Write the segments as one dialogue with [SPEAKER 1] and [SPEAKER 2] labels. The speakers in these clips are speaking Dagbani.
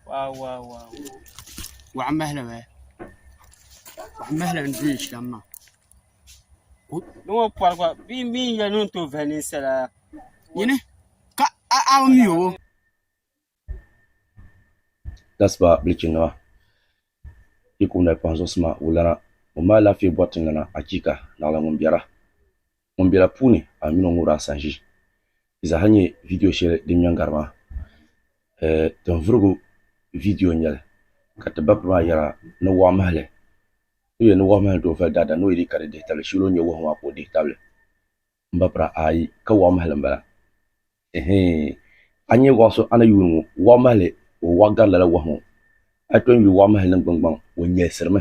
[SPEAKER 1] Wow, wow, wow. Waɣa mahali bɛ. Waɣa mahali n duli shɛm ma. Ni ŋɔ pɔri gba bee mi n yɛli ni n tooi vahi ninsala. Yini ka a a mi o.
[SPEAKER 2] Gasiba bilichinima yi kum dali pahi zuɣusi ma wulana ŋun mali alaafee bɔri tiŋlana achiika! Naɣila ŋun biɛra. Ŋun bela puuni a mini o ŋubiri a sanʒi yi zaa ha nyɛ vidiyo shɛli din ŋmɛ n-gari maa. Ɛɛh, tinvurigu vidiyo n-nyɛ li ka ti bapiri maa yɛra ni wɔɣu mahili o yɛli ni wɔɣu mahili doo vali daadani o yi dii ka di dihi tabili shili o ni nyɛ wɔhu maa ka o dihi tabili m-bapira ayi ka wɔɣu mahili m-bala. Ɛhii, a ni nyɛ wɔɣu so a ni yuuni ŋɔ wɔɣu mahili o wɔɣu gari lala wɔhu ŋɔ. A yi tɔn yuli wɔɣu mahili niŋgbuŋgbaŋ o nyɛlisirimi.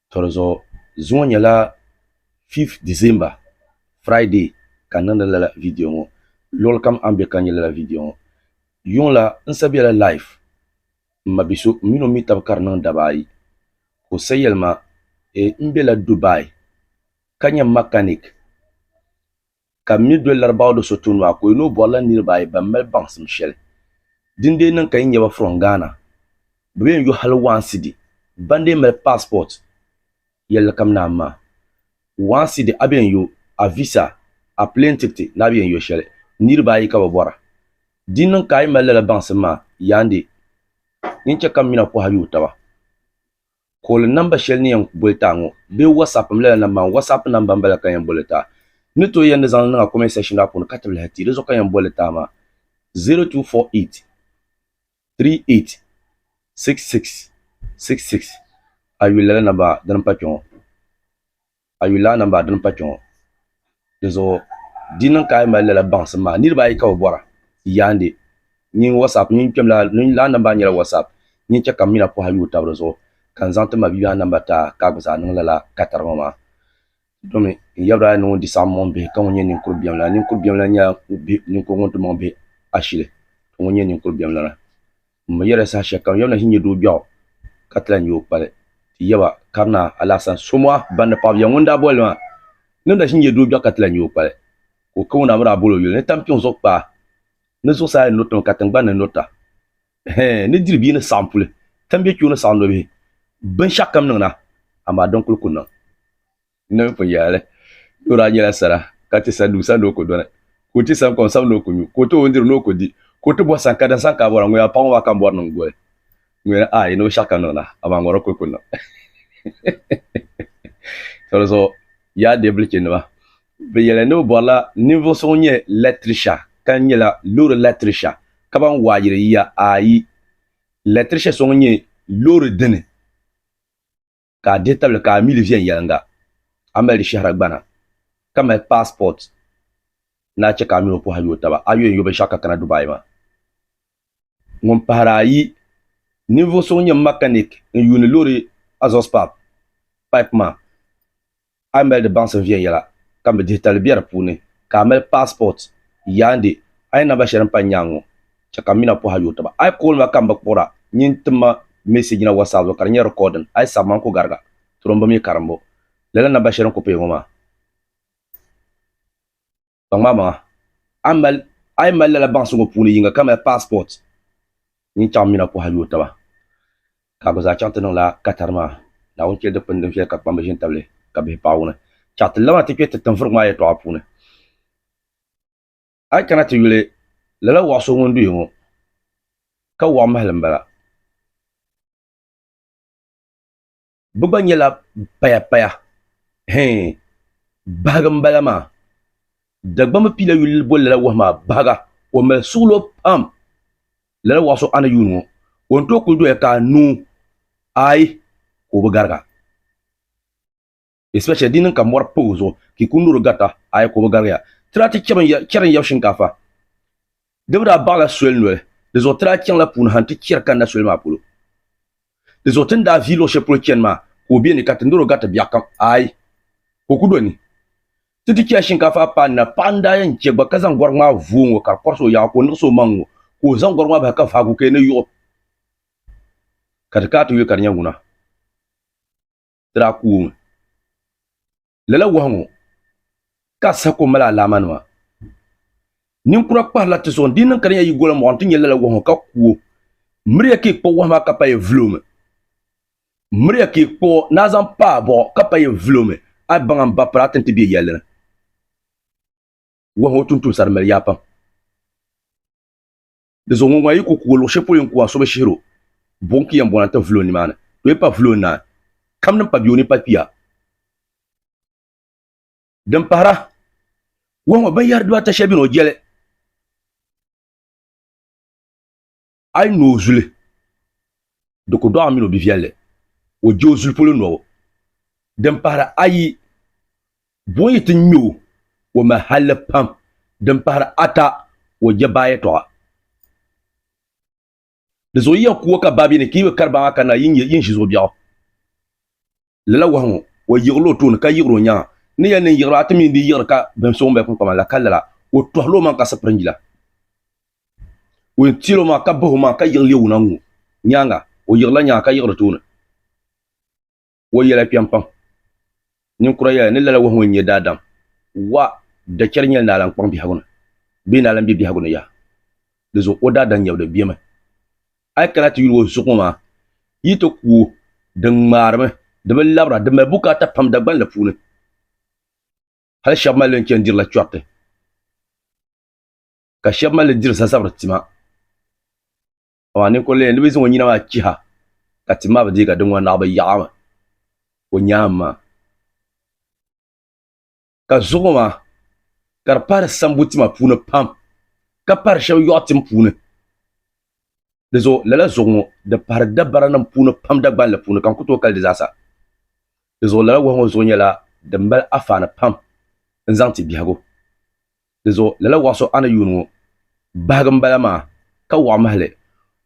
[SPEAKER 2] To di zuɣu zuŋɔ nyɛla 5th December Friday ka n niŋdi lala video ŋɔ luɣili kam a ni be ka nya lala video ŋɔ yuŋ la n sa bela life m ma biso m mini o mi taba ka di niŋ daba ayi ka o sa yelima e m bela Dubai ka nya mechanic ka m mi doli Larabawa do so tuun maa ka o yi ni o bɔrila niriba ayi ban mali baŋsim shɛli din dee niŋ ka yi nya ba from Ghana bɛ bee n-yo hali one cedi ban dee mali passport yɛlli kam naan maa one cedi a bee n-yo a visa a plane tikiti ni a bee n-yo shɛli niriba ayi ka bɛ bɔra din niŋ ka a yi mali lala baŋsim maa yaandi yin chɛ ka m mi na pɔhi a yi o taba Kooli namba shɛli ni yɛn boli ta ŋɔ bee WhatsApp m-lala namba maa WhatsApp namba m-bala ka yɛn boli ta. N ni tooi yɛn di zaŋ li niŋ a comment section maa puuni ka ti lahi ti di zuɣu ka yɛn boli ta maa 0248386666 a yuli lala namba dini m-pa kpe ŋɔ. a yuli lana m-bala din pa kpe ŋɔ. Dinzuɣu di niŋ ka a yi mali lala baŋsim maa, niriba ayi ka bɛ bɔra, yaandi nyin WhatsApp, nyin kpɛm la, nyin lana namba nyɛla WhatsApp, nyin chɛ ka m mina pɔha yuui tab di zuɣu ka n zaŋ ti ma bibiɛhiŋ namba ti a ka a gba zaa niŋ lala katari ŋɔ maa. Domi n yabira a ni ŋun di saɣim mɔŋ bihi ka ŋun nyɛ ninkur biɛm la. Ninkur biɛm la nyɛla ninkur ŋun ti mɔŋ bihi ashili ka ŋun nyɛ ninkur biɛm lana. M mi yɛla saha shɛli kam Yawɛ na ʒi n-nyɛ doo biɛɣu, ka ti lahi nyɛ o kpali. Ti yaba, Karina, Alasan, Somoa, ban ni paɣibiɛɣu ŋun daa boli li maa, ŋun na ʒi n-nyɛ doo biɛɣu ka ti lahi nyɛ o kpali, ka o kawuna mi daa bol o yuli ni tampiŋ zuɣu kpaa, ni zuɣusaa yɛn nuriti mi ka tiŋgbani ni nurita, hee ni diri bia ni saɣim puli, tambiɛ kpeo ni saɣim nɔbihi, binshɛɣukam niŋ na, amaa din kul ku niŋ. N-niŋ kpini yaali, ni o daa nyɛla sara, ka ti sa nuu sa ni o ku dɔni, ka o ti sa n-kom sam ni o ku nyu, ka o ti o n-diri ni o ku di, ka o ti bɔh san ka da san ka a bɔra, ŋun yaa paŋ o maa ka m-bɔri niŋ goli ŋun yɛli, Aai! Ni o shɛɣu ka n niŋ na, amaa ŋɔro kul ku n niŋ. Tɔlizuɣu, yaa deebulichinima, bɛ yɛli ni bɛ bɔrila ninvuɣ so ŋun nyɛ lɛtirisha ka n nyɛla loori lɛtirisha ka ban waa yiri yiya, aai! Lɛtirisha so ŋun nyɛ loori dini. ka a dihi tabili ka a mi li viɛnyɛliŋga, a mali di shɛhira gbana, ka mali passport ni a chɛ ka a mini o pɔhai yooi taba, a yo n-yo binshɛɣu ka kana Dubai maa. Ŋun pahiri ayi, ninvuɣ so ŋun nyɛ mechanic n-yuuni loori exhaust pipe maa. A yi mali di baŋsim viɛnyɛla ka mi dihi tali bɛ di puuni, ka a mali passport, yaande a yi namba shɛli m-pa n-nyaaŋ ŋɔ, chɛ ka m mina pɔh a yooi taba. A yi kooli ma ka m bi kpuɣir a, nyin tim ma message na WhatsApp zuɣu ka di nyɛ recording. A yi sabi ma, n ku gariga. Turimbu mii karimbu. Lala namba shɛli n ku paya ŋɔ maa. Kpaŋmaamaŋa, a yi mali lala baŋsi ŋɔ puuni yiŋga kamani passport, nyin chaŋ mina kɔha yooi taba, ka a gba zaa chaŋ ti niŋla Qatar maa, Naawuni cheli dikpini din viɛli ka kpamba ʒi n-tabili li, ka bihi paai wuni. Chɛɣu ti labina ti kpe ti tinvurigu maa yɛltɔɣa puuni. A yi kana ti yuli, lala waɣ so ŋun duhi ŋɔ, ka waɣ mahili m-bala. bɛ gba nyɛla payapaya hee bahigu m-bala maa Dagbamba pila yuli boli lala wahu maa bahiga o mali suɣilo pam lala wahu so a ni yuuni ŋɔ o ni tooi kuli doya ka a noo ayi ka o bi gariga especially di niŋ ka mɔri pa o zuɣu ka i kuli noori garita ayi ka o bi garigiya tira ti chɛri n-yab shinkaafa Di bi daa baɣila soli noli, di zuɣu ti daa chaŋla puuni ha nti chɛri kanna soli maa polo. Di zuɣu ti ni daa vihi luɣ shɛli polo chani maa, ka o be ni ka ti nir o gariti biɛɣukam? Aai! Ka o ku do ni. Ti ti chɛla shinkaafa paanu na, paɣa n-daa yɛn chɛ gba ka zaŋ gɔrigu maa vuui ŋ-ŋɔ ka di kɔrisi o yaɣa ka o niɣisi o maŋ ŋ-ŋɔ, ka o zaŋ gɔrigu maa bahi ka vahigu ka yi ni yiɣ o, ka ti kaai ti yuli ka di nyɛ ŋuna. Ti daa ku o mi. Lala wahu ŋɔ ka a saha ko mali alaamanima. Ninkura kpahirila ti zuɣu, di niŋ ka di nya yi gola mɔɣu nti nya lala wahu ŋɔ ka ku o. Miriya ka yi kpuɣi wahu maa ka pa yi vilo mi. Miriya ka yi kpuɣi o ni a zaŋ pa a bɔɣu ka pa yi vilo mi, a yi baŋa m-ba piri a ti ni ti be yɛlli ni. Wahu ŋɔ tumtumsa di mali yaa pam. Di zuɣu ŋun gba yi ku kugi luɣ shɛli polo yɛn kugi a so bi shihir o, buɣim ka yɛn bɔna nti vuli o nimaani. To yi pa vuli o naai, kam din pa bɛ o ni pa kpiya. Din pahira, Wɔhu ŋɔ binyɛri dibaata shɛli bɛ ni o jɛli a yi no o zuli, di ku dɔɣi a min o biviɛlli, o je o zuli polo nɔbu. Din pahira ayi, Bɔ yi ti ŋme o, o mali halli pam din pahiri ata o jɛbahi yɛtɔɣa. Di zuɣu yiya kuwa ka baa bɛ ni, ka yi bi kari baa maa kanna yi ni ʒi zuɣu biɛɣu. Lala wahu ŋɔ, o yiɣila o tooni ka yiɣiri o nyaaŋa. Ni yɛli ni n yiɣiri a ti mi n-dii yiɣiri ka bɛn so ŋun bali kpiŋkpama la, ka lala, o tɔhila omaŋ ka sipiri n-yila. O yɛn teela omaŋ ka bahi omaŋ ka yiɣi leei o naŋ ŋɔ nyaaŋa, o yiɣirila nyaaŋa ka yiɣiri tooni. Wahu yɛla kpɛm pam. Ninkura yɛla ni lala wahu ŋɔ n-nyɛ daadam. Wa dachɛri nyɛla ni alan kpaŋ biɛhigu ni bee ni alan be biɛhigu ni yaha. Di zuɣu o daadam nyɛbili bemi. A yi kana ti yuli o zuɣu ŋɔ maa, yi ti ku o. Di ŋmaarimi, di bi labira, di mali bukaata pam Dagbani la puuni. Hal shɛba mali li n-chani dirila chɔriti, ka shɛba mali li diri zazabiri tima. amaa ninkuri lee ni bi zaŋ o nyina maa chiha ka ti ma bi dii ka di ŋɔ naɣibu yaɣimi o nyaam maa. Ka zuɣu maa ka di pahiri sambu tima puuni pam ka pahiri shɛba yɔɣu tim puuni. Di zuɣu lala zuɣu ŋɔ di pahiri dabaranim puuni pam Dagbanli puuni ka n ku tooi kali di zaa sa. Di zuɣu lala wahu ŋɔ zuɣu nyɛla din mali afaani pam n-zaŋ ti biɛhigu. Di zuɣu lala waɣ so a ni yuun ŋɔ bahigi m bala maa, ka waɣ mahi li.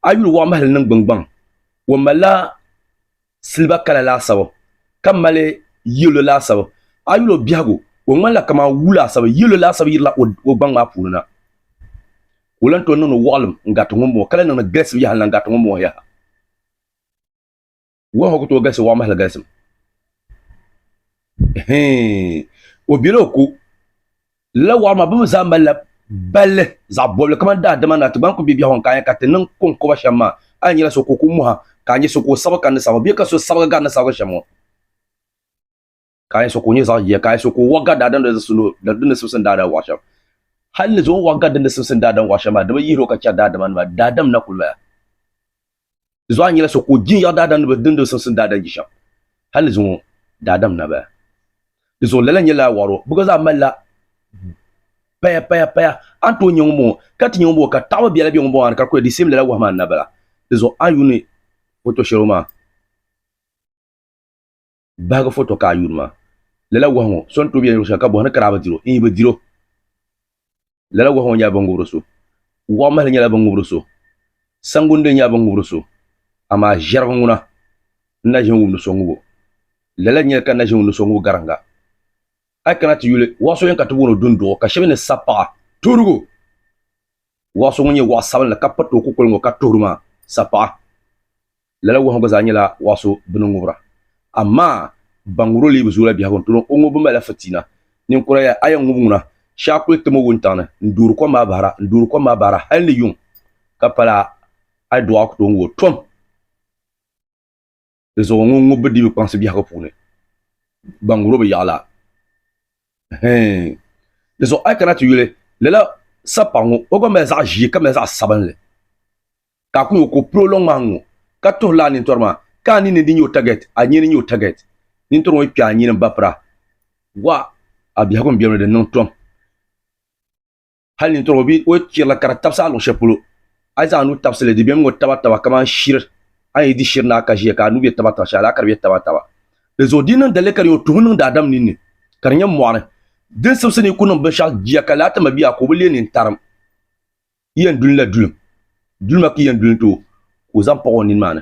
[SPEAKER 2] A yuli waɣ mahi li niŋ gbiŋgbaŋ. O malila siliba kala laasabu, ka mali yɛlo laasabu. A yuli o biɛhigu, o ŋmanila kaman wuu laasabu, yɛlo laasabu yirila o gbaŋ maa puuni na. Ka o lan tooi niŋdi waɣilim n-gariti ŋumbɔŋɔ, ka lan niŋdi gilisibu yaha n-lan gariti ŋumbɔŋɔ yaha. Wɔhu ku tooi galisi wɔɣimahili galisim. Hee, o bela o ko. Lala wɔɣu maa bɛ mi zaa malila balli zaɣ bɔbili kamani daadama ni a ti gba ni ku be biɛhigu ni ka a nya ka ti niŋ kɔŋkoba shɛm maa, a ni nyɛla so ka o ku mɔha ka a nya so ka o sabigi ka ni sabigi bee ka so sabigi gari ni sabigi shɛm ŋɔ. ka a yɛn so ka o nyɛ zaɣ jia ka a yɛn so ka o waɣa gari daadam di ni simsim daadam waɣa shɛm hal ni zuɣu waɣa gari di ni simsim daadam waɣa shɛm maa dama yihiri o ka chɛri daadama nima daadam na kuli maya zuɣu a nyɛla so ka o jin yaɣa daadam ni di ni simsim daadam ji shɛm hal ni zuɣu daadam na baya di zuɣu lala nyɛla a waɣaro bi gba zaa malila paya paya paya a ni tooi nyɛ ŋun bɔŋɔ ka ti nyɛ ŋun bɔŋɔ ka taɣaba biɛla bɛ ŋun bɔŋɔ a ni ka kuli di sim lala wahi maa ni na bala di zuɣu a yuuni foto shɛli maa Bahigi foto ka a yuuni ma. Lala wahu ŋɔ, so n-tooi be yɛn luɣ shɛli ka bɔhi ni ka daa bi diri o, n-yi bi diri o. Lala wahu ŋɔ nyɛla binŋubiri so. Waɣ mahili nyɛla binŋubiri so. Sangunde nyɛla binŋubiri so. Amaa ʒɛrigu ŋuna, n na ʒimi wum ni so ŋub o. Lala n-nyɛ li ka n na ʒimi wum ni so ŋub gariŋga. A yi kana ti yuli, waɣ so yɛn ka ti booni o Dunduɣu, ka shɛba ni Sapaɣa, Tuhirigu. Waɣ so ŋun nyɛ waɣ sabinli ka piriti o kukoli ŋɔ ka tuhiri maa, Sapaɣa. Lala wahu gba zaa nyɛla wahu so bɛ ni ŋubira. Amaa ban ŋubir o lee bi zooi la biɛhigu n-tol o, o ŋubbu malila fitiina. Ninkura ya, a yɛn ŋub ŋuna, shee a kul tim o wuntaŋ ni, n-doori kom maa bahira, n-doori kom maa bahira hal ni yuŋ ka pala a ni dɔɣi a ku tooi ŋub o. Tom! Dinzuɣu ŋun ŋub bi di bi kpaŋsi biɛhigu puuni, ban ŋubir o bi yaɣi la. Hii! Dinzuɣu a yi kana ti yuli lala sapaɣ ŋɔ, o gba mali zaɣ ʒee ka mali zaɣ sabinli. ka a ku ŋɔ ka o piri o lɔŋ maa ŋ-ŋɔ, ka tuhi lala nintɔri maa, ka a ninni di nyɛ o tagɛt, a nyini nyɛ o tagɛt. Nintɔri ŋɔ yi kpe a nyini m-bapira, gɔɣa a biɛhigu m-bemi la di niŋ tom. Hal nintɔri ŋɔ bi o chirila ka di tabisi a luɣ shɛli polo, a yi zaŋ a nuu tabisi li, di bemi ŋ-ŋɔ tabataba kaman shiri a ni yi di shiri ni a ka ʒiya ka a nuu be tabataba shɛli la ka di be tabataba. Dinzuɣu di yi niŋ daliri ka di nyɛ o tuhi niŋdi Adam ninni, ka di nyɛ mɔɣiri din simsi ni yi ku niŋ binshɛɣu jia ka laa ti ma bia ka o bi leei nintariŋ. Yi yɛn duli la dulim, dulima ka yi yɛn duli n-ti o, ka o zaŋ paɣ o nini maa ni.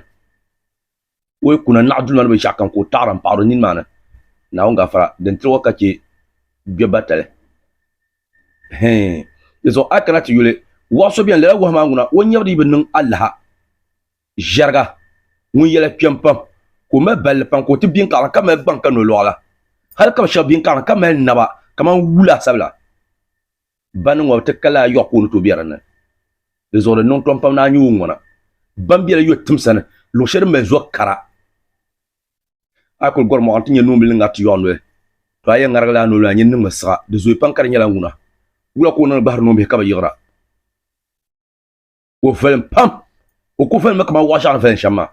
[SPEAKER 2] O yi kuna naɣ dulima ni binshɛɣu kam ka o taɣiri m-paɣir o nini maa ni, Naawuni gafara din tiri o ka chɛ gbɛ batali. Hɛɛn! Dizuɣu a yi kana ti yuli, wahu so beni, lala wahu maa ŋuna, O nyɛbu di yi bi niŋ alaha ʒiɛriga ŋun yɛla kpɛm pam, ka o mali balli pam, ka o ti biŋkɔɣiri ka mali gbaŋ ka nolɔɣu la, hal ka bi shɛba biŋkɔɣiri ka mali naba kaman wula sabila. Bani ŋɔ ti kali ayɔɣu ka o ni tooi bɛ di ni. Di zuɣu di niŋ tom pam ni a nya o ŋuna. Bani bela yɔh tim sani, luɣ shɛli din mali zo kara. A yi kuli gɔri mɔɣu nti nya noombil ni ŋariti yɔɣu noli, tɔ a yɛn ŋarigila a noli ni a nyin niŋmi siɣa. Di zooi pam ka di nyɛla ŋuna. Wula ka o niŋdi gbahiri noombihi ka bi yiɣira? o viɛlim pam o ku viɛlimi kamani waɣa shɛŋa ni viɛlim shɛm maa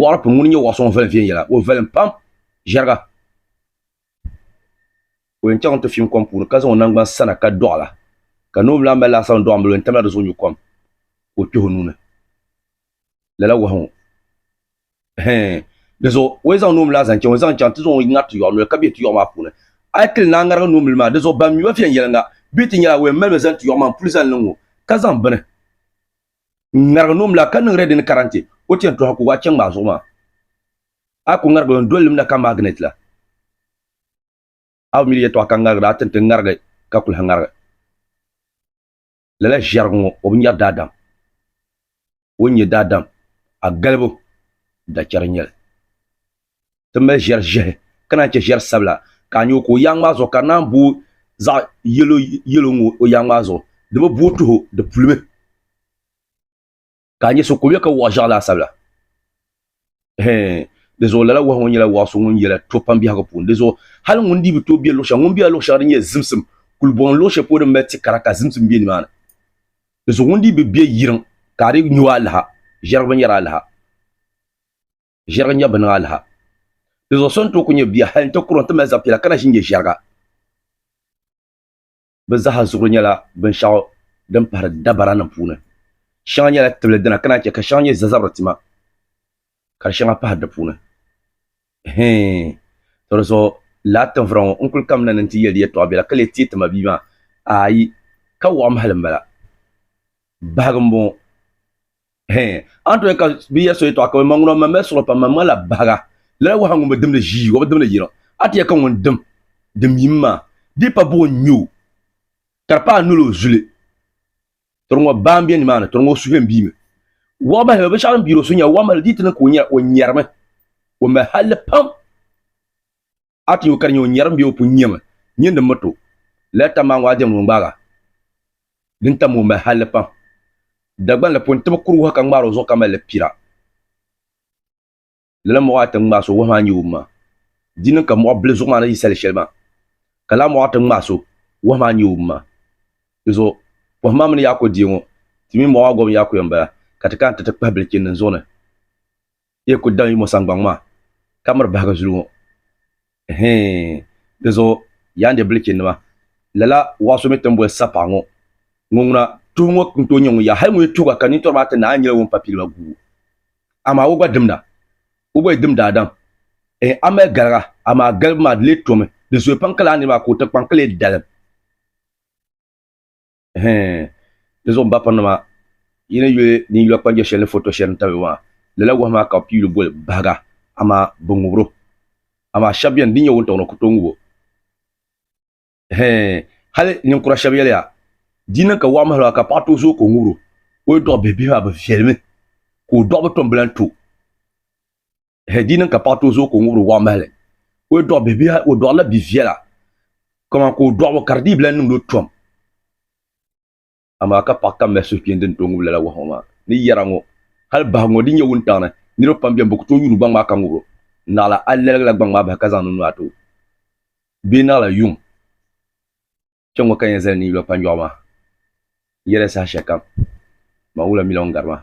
[SPEAKER 2] waɣa pini ŋuni nyɛ waɣa so ŋun viɛlim viɛnyɛla o viɛlim pam ʒɛriga o yɛn chaŋ ti fiim kom puuni ka zaŋ o nangbani sana ka doɣala ka noo lahi mali laasabu n doɣi n bala o yɛn tamla dizuɣu nyu kom ka o kpih o nuuni lala wahu ŋɔ hɛn di zuɣu o yi zaŋ noomili maa zaŋ chaŋ o zaŋ chaŋ ti zaŋ o ŋari ti yɔɣu noli ka bɛ ti yɔɣu maa puuni a yi tili naa ŋarigi noomili maa di zuɣu ban mi ba viɛnyɛliŋga bɛ ti nyɛla o yɛn malimi zaŋ ti yɔɣu maa n puli zaŋ niŋ ŋɔ ka zaŋ bini n ŋarigi noomili maa ka niŋ rɛdini karantɛ o ti yɛn tɔha ka o waa chɛŋ maa zuɣu maa a yi ku ŋarigi o ni doli limda ka maginɛt la a bi mi di yɛtɔɣa ka ŋarigi di a ti ni ti ŋarigi ka kuli ha ŋarigi lala ʒiɛrigu ŋo o bi nyɛri daadam o ni nyɛ daadam a galibu dachɛri n nyɛli ti mali ʒiɛri ʒiɛhi ka naan chɛ ʒiɛri sabila ka a nyɛ o ka o yaŋ maa zuɣu ka di naan booi zaɣ yɛlo yɛlo n ŋo o yaŋ maa zuɣu di bi booi tuho di pulimi ka a nya so ka o yɛ ka wɔɣ ʒiɛɣu laasabu la. Hɛɛn, di zuɣu lala wɔɣu ŋɔ nyɛla wɔɣu so ŋun yɛla to pam biɛhigu puuni. Di zuɣu hali ŋun dii bi tooi be luɣ shɛŋa, ŋun bela luɣ shɛŋa din nyɛ zimsim kulibɔŋ luɣ shɛli polo din mali ti kara ka zimsim be nimaani, di zuɣu ŋun dii bi be yiriŋ ka a di nyu alaha, ʒiɛrigiba nyɛri alaha, ʒiɛriga nyɛbu bi niŋ alaha. Di zuɣu so ni tooi kuli nyɛ bia hali nti kura nti mali zab piɛla ka na ʒi n-nyɛ ʒiɛriga. bɛ zaaha zuɣuri nyɛla binshɛɣu din pahiri dabaranim puuni. Shɛŋa nyɛla tibili dina ka naan chɛ ka shɛŋa nyɛ zazabiri tima ka di shɛŋa pahiri di puuni. Hii! Tɔ di zuɣu laa tinvira ŋɔ n kul kamina ni nti yɛli di yɛtɔɣ biɛla ka lee teei ti ma bia maa? Aayi! Ka wɔɣim hal m-bala. Bahigi m-bɔŋɔ. Hee, a ni tooi ka bɛ ya so yɛtɔɣa ka bɛ ma ŋuna o mamila suɣuri pam, mamŋa la bahiga, lala waha ŋun bi dimdi ʒii, o bi dimdi yiriŋ. A ti ya ka ŋun dim din yim maa dii pa buɣi n-ŋme o, ka di paai nol o zuli. Tɔriŋɔ baa m-be nimaani, tɔriŋɔ o suhuyɛn biimi. Waɣ bahiba binshɛɣu din biiri o suhu nya waɣ mahili dii ti niŋ ka o nyarimi. O mahi halli pam. A ti nya o ka di nya o nyɛrim bee o pun nyami nyin din mi to. Lala tam maa ŋɔ a diɛm ni o ŋmaaga din tam o mahalli pam. Dagban la pun tibi kuri wahu ka ŋmaar o zuɣu ka mali li pira. Lala muɣa ata ŋun ŋmaai so wahu maa n-nyɛ o ma. Di niŋ ka muɣa bili zuɣu maa ni yi sali shɛli maa, ka lala muɣa ata ŋun ŋmaai so wahu maa n-nyɛ o ma. Di zuɣu pɔhim maa mini yaakɔ diɛ ŋɔ, ti mi muɣa maa gɔbu yaakɔya m-bala, ka ti kana ti ti kpahi bilichini din zuɣu ni. yi yi kul daŋ yimo saŋgbaŋ maa, ka miri bahigu zuli ŋɔ, ɛhɛin! Dinzuɣu, yaa n di bilichinima, lala waa so mi ti ni boli Sapaɣ ŋɔ, ŋɔ ŋuna, tuhi ŋɔ n tooi nyɛ ŋun ya, hal ŋun yi tuhi ba ka nintɔri maa ti naai n nyɛla ŋun pa piliba gubu. Amaa o gba dimda, o gba yi dim daadam, ɛhɛin! A mali galiga, amaa galibu maa di lee tomi, di zooya pam ka lala nir maa ka o tiŋkpaŋ ka lee dalim. di zuɣu n ba piri nima yi ni yuli din yuli kpanjɛ shɛli ni foto shɛli ni tabi maa lala wahi maa ka bi pii yuli boli bahiga amaa bi ŋubiro amaa shab biɛni din nyɛ wuntaŋ ni o ku tooi ŋubo hali ninkura shab yɛliya di yi niŋ ka waɣa mahalo ka paɣa tooi zooi ka o ŋubiro o yɛltɔɣa bihi bihi maa bi viɛlimi ka o dɔɣu bi tom bi lahi to hɛ di niŋ ka paɣa tooi zooi ka o ŋubiri waɣa mahali o yi dɔɣi bihi o dɔɣila bi viɛla kaman ka o dɔɣibu ka di dii bi lahi niŋdi o tom amaa ka paɣa kam mali suhupiɛlli din tooi ŋubi lala wahu ŋɔ maa ni yɛra ŋɔ hali bahigu ŋɔ din nyɛ wuntaŋ ni niriba pam bɛni bɛ ku tooi yuuni gbaŋ maa ka ŋubiro naɣila a laligila gbaŋ maa bahi ka zaŋ niŋ nuu ati o bee naɣila yuŋ kpɛŋŋɔ ka yɛn zali ni yi lo kpanjɔɣu maa yɛrɛ saha shɛli kam man wula mila ŋun gari maa